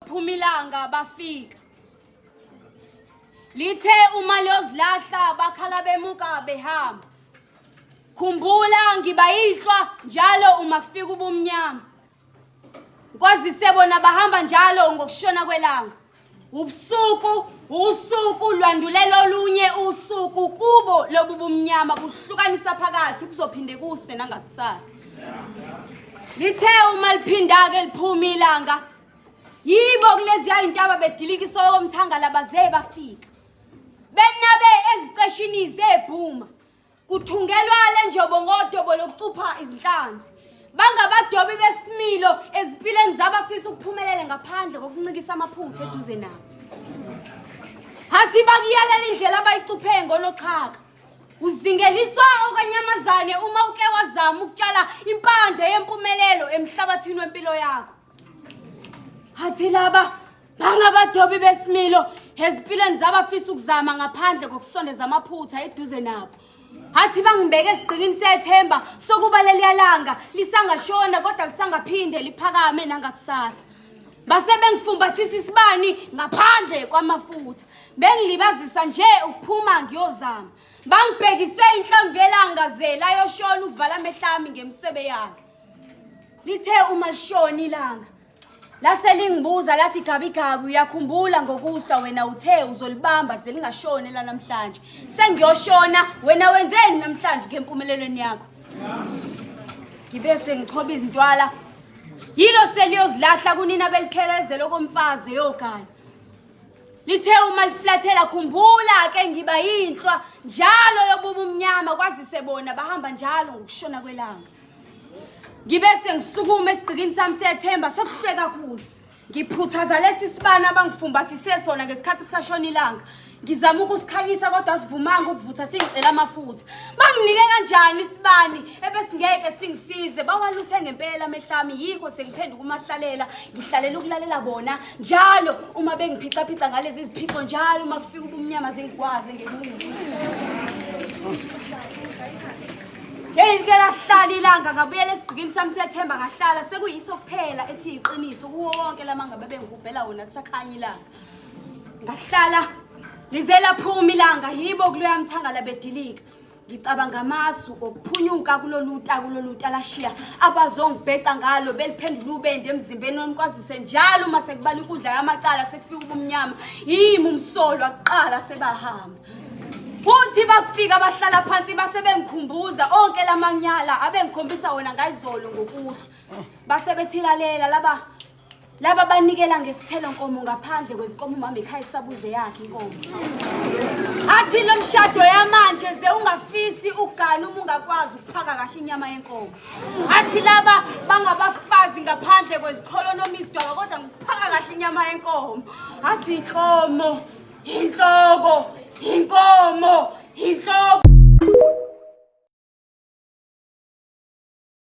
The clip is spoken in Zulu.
Phuma ilanga bafika. Lithe uma liyozilahla bakhala bemuka behamba. Khumbula ngiba yinhlwa njalo uma kufika ubumnyama. Kwazise bona bahamba njalo ngokushona kwelanga. Ubusuku usuku lwandulela olunye usuku kubo lobu bumnyama buhlukanisa phakathi kuzophinde kuse nangakusasa. Lithe uma liphinda-ke liphuma ilanga yibo kuleziya intaba bedilika isoko mthangala baze bafika benabe eziceshini zebhuma kuthungelwa le njobo ngodobo lokucupha izinhlanzi bangabadobi besimilo ezimpilweni zabafisa ukuphumelele ngaphandle kokuncikisa amaphutha eduze nabo hathi bakuyalela indlela abayicuphe ngonoxhaka uzingeliswa okanyamazane uma uke wazama ukutshala impande yempumelelo emhlabathini wempilo yakho Hathi laba bangabadobi besimilo ezimpilweni zabafisa ukuzama ngaphandle kokusondeza amaphutha eduze nabo. Hathi bangibeke esigqikini sethemba sokuba leliyalanga lisangashona kodwa lisangaphinde liphakame nangakusasa. Base bengifumbathisa isibani ngaphandle kwamafutha. Bengilibazisa nje ukuphuma ngiyozama. Bangibhekise inhlongelanga zela yoshona ukuvala amehlami ngemsebe yakhe. Lithe uma lishona ilanga lase lingibuza lathi gabi gabi uyakhumbula ngokuhlwa wena uthe uzolibamba ze lingashone la namhlanje sengiyoshona wena wenzeni namhlanje ngempumelelweni yakho ngibe sengichoba izintwala yilo seliyozilahla kunina belikhelezela okomfazi eyogana lithe uma liflathela khumbula ke ngiba yinhlwa njalo yobuba umnyama kwazise bona bahamba njalo ngokushona kwelanga ngibe sengisukuma esigqikini sami sethemba sokuhlwe kakhulu ngiphuthaza lesi sibani abangifumbathise sona ngesikhathi kusashona ilanga ngizama ukusikhanyisa kodwa sivumanga ukuvutha singicela amafutha banginike kanjani isibani ebesingeke singisize bawaluthe ngempela amehlami yikho sengiphenduka umahlalela ngihlalela ukulalela bona njalo uma bengiphicaphica ngalezi ziphixo njalo uma kufika ubumnyama zingikwazi ngekungu Hey ngeke lahlala ilanga ngabuyela esigqikini sami sethemba ngahlala sekuyiso kuphela esiyiqiniso kuwo wonke lamanga bebengihubhela wona sakhanya ilanga. Ngahlala lizela phuma ilanga yibo kuluyamthangala bedilika. Ngicabanga amasu okuphunyuka kuloluta kuloluta lashiya abazongibheca ngalo beliphendula ubende emzimbeni onikwazise njalo uma sekubala inkundla yamacala sekufika ubumnyama yimi umsolwa kuqala sebahamba Uthi bafika bahlala phansi base bengikhumbuza onke lamanyala abengikhombisa wona ngayizolo ngokuhla. Base bethilalela laba laba banikela ngesithelo nkomo ngaphandle kwezinkomo umama ekhaya isabuze yakhe inkomo. Athi lo mshado yamanje ze ungafisi ugana uma ungakwazi ukuphaka kahle inyama yenkomo. Athi laba bangabafazi ngaphandle kwezicholo noma izidwaba kodwa ngiphaka kahle inyama yenkomo. Athi inkomo Inhloko, inkomo, inhloko.